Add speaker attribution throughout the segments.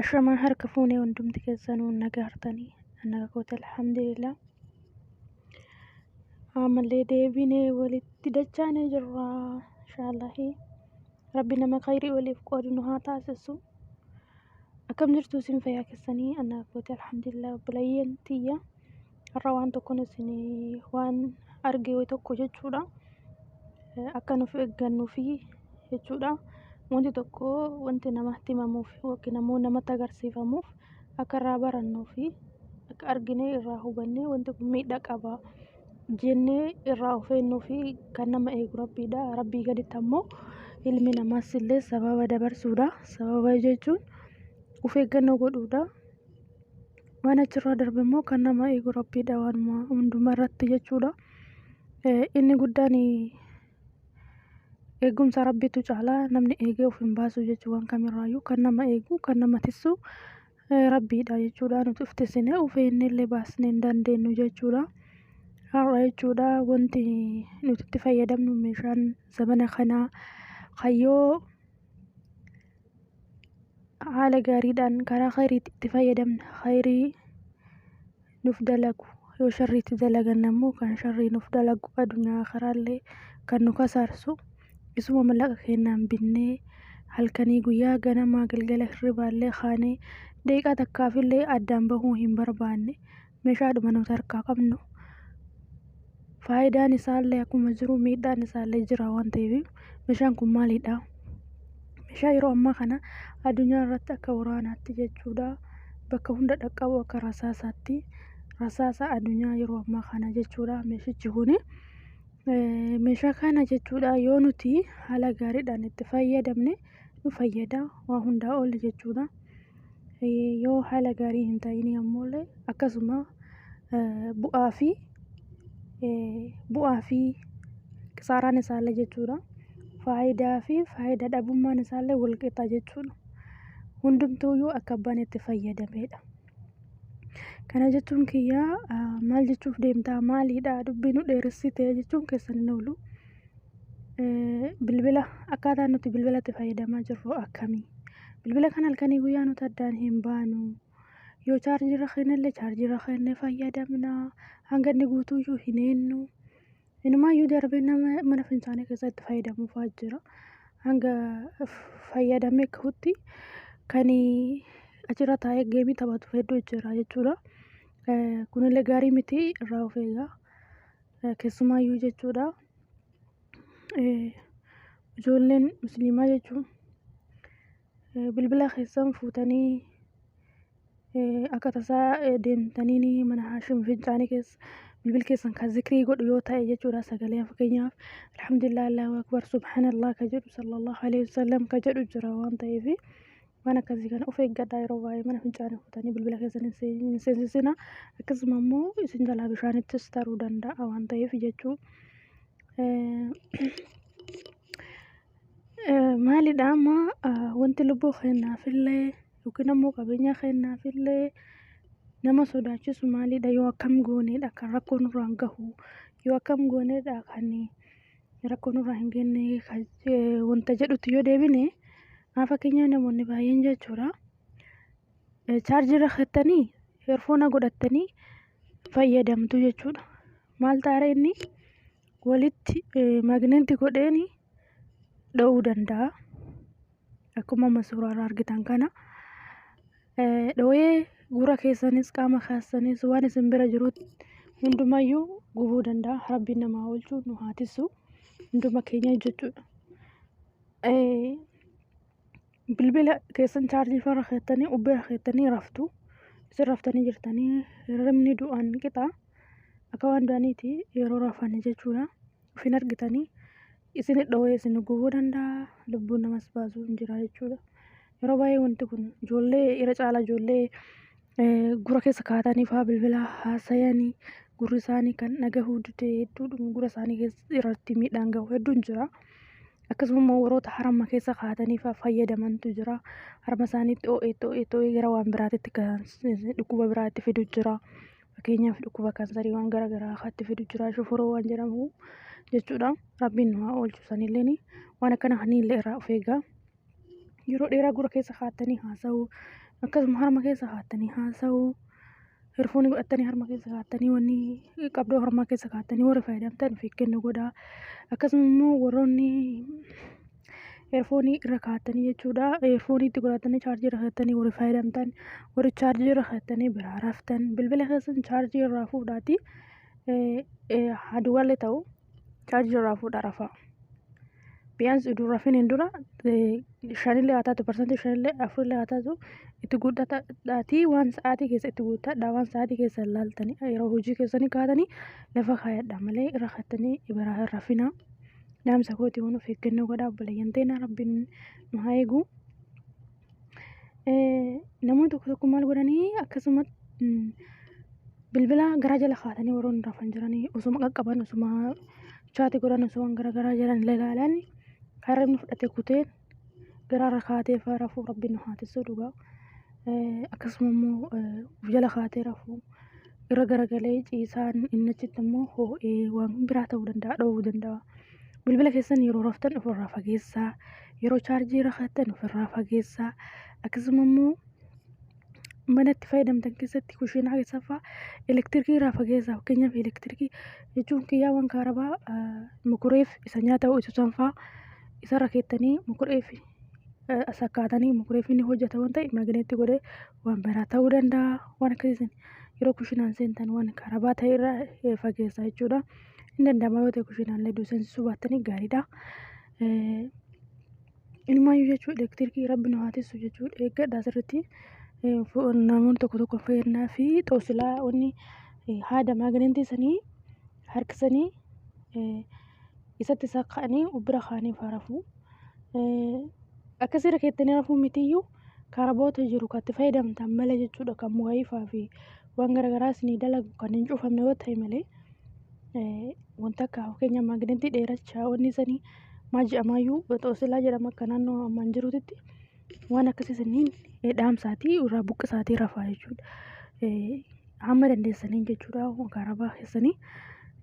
Speaker 1: Ashamaa harka fuunee hundumti keessanuu naga hartanii naga koota alhamdulillah. Ammallee deebinee walitti dachaanee jirra inshaallahi. Rabbi nama khayrii waliif qoodu nu haa taasisu. Akkam jirtu isin fayyaa keessanii naga koota alhamdulillah obboleeyyan tiyya. Har'a waan tokkoon isin waan arge wayi tokko jechuudha. Akka nuuf eeggannuufi jechuudha. Wanti tokko wanti namatti himamuuf yookiin ammoo namatti agarsiifamuuf akka irraa barannuufi akka arginee irraa hubannee wanti kun miidhaa qaba jennee irraa of eegnuufi kan nama eegu rabbiidha. Rabbii gaditti ammoo ilmi namaas illee sababa dabarsuudha. Sababa jechuun of eeggannoo godhuudha. Waan achirraa darbe immoo kan nama eegu rabbiidha waanuma hundumaa irratti jechuudha. Inni guddaan eegumsa rabbiitu caalaa namni eegee of hin baasu jechuu waan kamirraayyuu kan nama eegu kan nama tissu rabbiidha jechuudha. Nuti of tissinee of eegnee illee baasnee hin dandeenyu jechuudha. Har'a jechuudha wanti nuti itti fayyadamnu meeshaan zamana kanaa kayyoo haala gaariidhaan karaa kheeyriitti itti fayyadamne kheeyrii nuuf dalagu yoo sharrii itti dalaganne ammoo kan sharrii nuuf dalagu adunyaa aakhiraallee kan nu kasaarsu isuma mallaqa keennaan binnee halkanii guyyaa ganamaa galgala hirribaallee kaanee daqiiqaa takkaafillee addaan bahuu hin barbaanne meeshaadhuma nuti harkaa qabnu faayidaan isaallee akkuma jiru miidhaan isaallee jira waan ta'eef meeshaan kun maalidha? Meeshaa yeroo ammaa kana addunyaa irratti akka waraanaatti jechuudha bakka hunda dhaqqabu akka rasaasaatti rasaasa addunyaa yeroo ammaa kana jechuudha meeshichi kuni. Meeshaa kana jechuudha yoo nuti haala gaariidhaan itti fayyadamne nu fayyada waa hundaa ol jechuudha. Yoo haala gaarii hin ta'iinii ammoo illee akkasuma bu'aa fi bu'aa fi kisaaraan isaa illee jechuu dha. Faayidaa fi faayidaa dhabummaan isaa illee wal qixa jechuu dha. Hundumtuu iyyuu akka abbaan itti fayyadamee dha. Kana jechuun kiyya maal jechuuf deemta maali dha dubbii nu dheeressite jechuun keessan hin oolu. Bilbila akkaataa nuti bilbila itti fayyadamaa jirru akkami? Bilbila kan halkanii guyyaa nuti addaan hin baanu. Yoo chaarjii irra kennellee chaarjii irra kennee fayyadamna. Hanga inni guutuyyuu hin eennu. Inumaayyuu darbee nama mana fincaanii keessatti fayyadamuufaa jira. Hanga fayyadamee kahutti kan achirra taa'ee geemii taphatu hedduu jira jechuudha. Kunillee gaarii miti irraa of eegaa. Keessumaayyuu jechuudha. Ijoolleen musliimaa jechuun bilbila keessan fuutanii akka tasaa deemtaniini mana haashim fincaanii keessa bilbilli keessan kan zikrii godhu yoo ta'e jechuudha sagalee fakkeenyaaf alhamdulillah, allaahu akbar, subhaanallah ka jedhu, sallallaahu aleyhi wasallam ka jedhu jira waan ta'eefi. Waan akkasii kana of eeggadhaa yeroo baay'ee mana fincaanii kutanii bilbila keessan hin seen- hin seensisina. Akkasuma immoo isin jalaa bishaanittis taruu danda'a waan ta'eef jechuu. Eh, eh, Maalidha amma ah, wanti lubbuu keenyaafillee yookiin ammoo qabeenya keenyaafillee nama sodaachisu maalidha yoo akkam gooneedha kan rakkoo nurraan gahu yoo akkam gooneedha kan rakkoo nurraa hin geenne kan je- wanta jedhutti yoo deebine haa fakkeenyaa namoonni baay'een jechuudha eh, chaarjii irra keessanii heerfoona godhattanii fayyadamtu jechuudha maal taara inni walitti eh, magneetti godheeni dha'uu danda'a akkuma amma suuraa irraa argitan kana dhooyee gurra keessanis qaama keessanis waan isin bira jirutti hundumayyuu gubuu danda'a rabbiin namaa oolchu nu haa tissu hunduma keenya jechuudha. Bilbila keessan chaarjii farra keettanii ubbira keettanii raftu isin raftanii jirtanii hirribni du'aan qixa akka waan du'aniiti yeroo rafan jechuudha. Ofin argitanii Isin dhowee isin gubuu danda'a, lubbuu namas baasuu hin jira jechuudha. Yeroo baay'ee wanti kun ijoollee irra caala ijoollee gura keessa kaatanii faa bilbila haasayanii gurri isaanii kan dhagahuu dide hedduudhuma gura isaanii keessa irratti miidhaan gahu hedduun jira. Akkasuma immoo warroota harma keessa kaatanii faa fayyadamantu jira. Harma isaaniitti oo'ee oo'ee oo'ee gara waan biraatitti kan dhukkuba biraatti fidu jira. Fakkeenyaaf dhukkuba kansariiwwan gara garaa akka itti fidu jira shoforoo waan jedhamu jechuudha. Rabbiin nu haa oolchu sanilleen waan akkana kanillee irraa of eegaa. Yeroo dheeraa gurra keessa kaa'attanii haasa'uu akkasuma harma keessa kaa'attanii haasa'uu hirfoonii godhattanii harma keessa kaa'attanii wanni qabdoo harmaa keessa kaa'attanii warri fayyadamtan of eeggannoo godhaa. Akkasuma immoo warroonni Eerfoonii irra kaattanii jechuudha. Eerfoonii itti godhattanii chaarjii irra kaattanii warri fayyadamtan warri chaarjii irra kaattanii biraa raftan bilbila keessan chaarjii irraa fuudhaati haduwallee ta'u chaarjii irraa fuudhaa rafaa. Biyyaans iduu rafin hin dura shanillee haa taatu parsantii shanillee afurillee haa taatu itti guuttadhaatii waan sa'aatii keessa itti guuttadhaa waan sa'aatii keessa laaltanii yeroo hojii keessanii kaatanii lafa kaayadhaa malee irra kaattanii biraa hin rafinaa. Dhaamsa kooti waan of eeggannoo godhaa obboleeyyan teena rabbiin nu haa eegu. Namoonni tokko tokko maal godhanii akkasuma bilbila garaa jala kaa'atanii warroonni rafan jiranii osuma qaqqaban osuma chaati godhan osuma waan garaa garaa jedhan ilaalan kan hirribni fudhate kutee garaarra kaatee faa rafuu rabbiin nu haa tissuu dhugaa. Eh, Akkasuma immoo eh, of jala kaatee rafuu irra garagalee ciisaan inni achitti immoo hoo'ee waan biraa ta'uu danda'a dhoowuu danda'a. Bilbila keessan yeroo raftan ofirraa fageessaa, yeroo chaarjii irra kaattan ofirraa fageessaa, akkasuma immoo mana itti fayyadamtan keessatti kushiinaa keessaa fa'aa elektirikii irraa fageessaa fakkeenyaaf elektirikii jechuun kiyyaa waan kaarabaa mukureef isa nyaata ho'isu san fa'aa isarra keettanii mukureef sakkaatanii mukureef ni hojjata waan ta'eef magineetti godhee waan biraa ta'uu danda'a waan akkasii san yeroo kushiinaan seentan waan kaarabaa ta'e irraa fageessaa jechuudha. Hin danda'ama yoo ta'e kushiinaan illee duuseensisuu baattanii gaariidha. Inumaayyuu jechuun elektirikii rabbi nu haa tissu jechuun eeggadha asirratti. Namoonni tokko tokko fayyadnaa fi xoosilaa wanni haada maagineentii sanii harkisanii isatti isaa ka'anii bira kaanii faa rafuu. Akkasirra keessanii rafuu mitiyyuu karaboota jiru kan itti fayyadamtan malee jechuudha kan mukaayifaa fi waan garagaraa isinii dalagu kan hin cuufamne yoo ta'e malee wanta akka fakkeenya maagneetii dheerachaa wanni isanii maa jedhamaayyuu xoosilaa jedhama akka naannoo ammaan jiruutitti waan akkasii isiniin dhaamsaatii irraa buqqisaatii rafaa jechuudha. Hamma dandeessaniin jechuudha karaa bahaa keessanii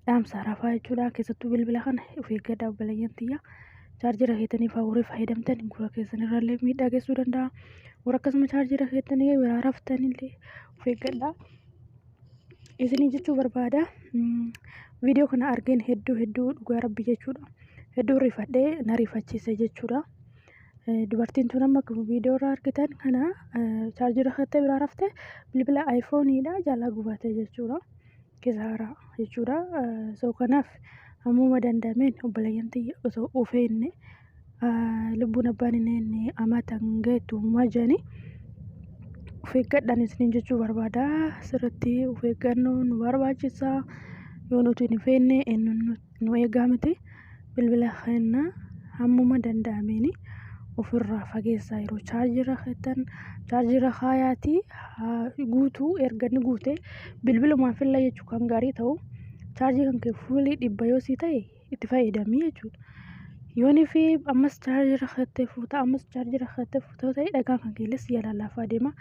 Speaker 1: dhaamsaa rafaa jechuudha keessattuu bilbila kana of eeggadhaa obboleeyyan tiyya. Chaarjira keessanii fa'aa warri fayyadamtan gurra keessanirraallee miidhaa geessuu danda'a. Warra akkasuma chaarjira keessanii biraa raftanillee of eeggadhaa. Isinii jechuu barbaada. Viidiyoo kana argeen hedduu hedduu dhugaa rabbi jechuudha. Hedduu rifadhee na rifachiise jechuudha. Dubartiin tun amma viidiyoo irraa argitan kana chaarjii rakkattee biraa raftee bilbila ayfooniidha jalaa gubate jechuudha. kisaaraa jechuudha. So kanaaf hammuma danda'ameen obboleeyyan tiyya osoo of eegne lubbuun abbaan hin eegne amata hin geettu uumaa jedhanii of eeggadhaan isiniin jechuu barbaada. Sirriitti of eeggannoo nu barbaachisa. Yoo nuti hin of eegne eenyuun nu nu eegaa miti bilbila keenya hammuma danda'ameen ofirraa fageessaa yeroo chaarjirra keettan chaarjirra kaayaatii guutuu erga inni guute bilbilumaan filla jechuu kan gaarii ta'u chaarjii kan kee fuulii dhibba yoo sii ta'e itti fayyadamii jechuudha. Yoonii fi ammas chaarjirra keettee fuuta ammas chaarjirra keettee fuuta yoo ta'e dhagaan kan keellee si jalaa laafaa deema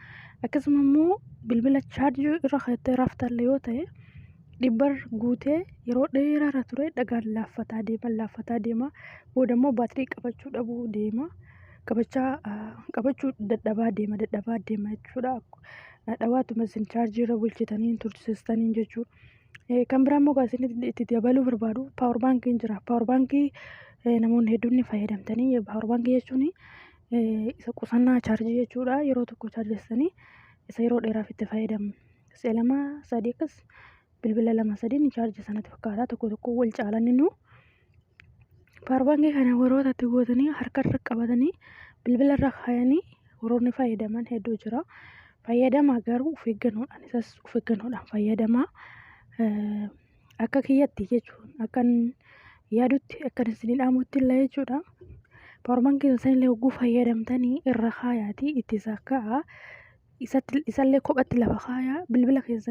Speaker 1: akkasuma immoo bilbila chaarjii irra keettee raftallee yoo ta'e dhibbarra guutee yeroo dheeraarra turee dhagaan laaffataa deema, laaffataa deema. Boodammoo baatirii qabachuu dhabuu deema. Qabachaa, qabachuu dadhabaa deema, dadhabaa deema jechuudha. Dhawaatuma isin chaarjiirra bulchitaniin tursiistaniin jechuudha. Kan biraammoo kan isin itti dabaluu barbaadu paawar baankiin jira. Paawar baankii namoonni hedduun ni fayyadamtanii. Paawar baankii jechuun isa qusannaa chaarjii jechuudha. Yeroo tokko chaarjessanii isa yeroo dheeraaf itti fayyadamna. Si'a lama sadii akkas bilbila lama sadii ni chaarja sanatti fakkaata tokko tokko wal caalan innuu. Paarbaangii kana warroota itti gootanii harkarra qabatanii bilbila irra kaayanii warroonni fayyadaman hedduu jira. Fayyadamaa garuu of eeggannoodhaan isas of eeggannoodhaan fayyadamaa. Akka kiyyatti jechuun akkan yaadutti akkan isin dhaamutti illee jechuudha. Powerbank keessan illee hogguu fayyadamtanii irra kaayaatii itti sakka'a. Isatti- Isallee kophatti lafa kaayaa bilbila keessan.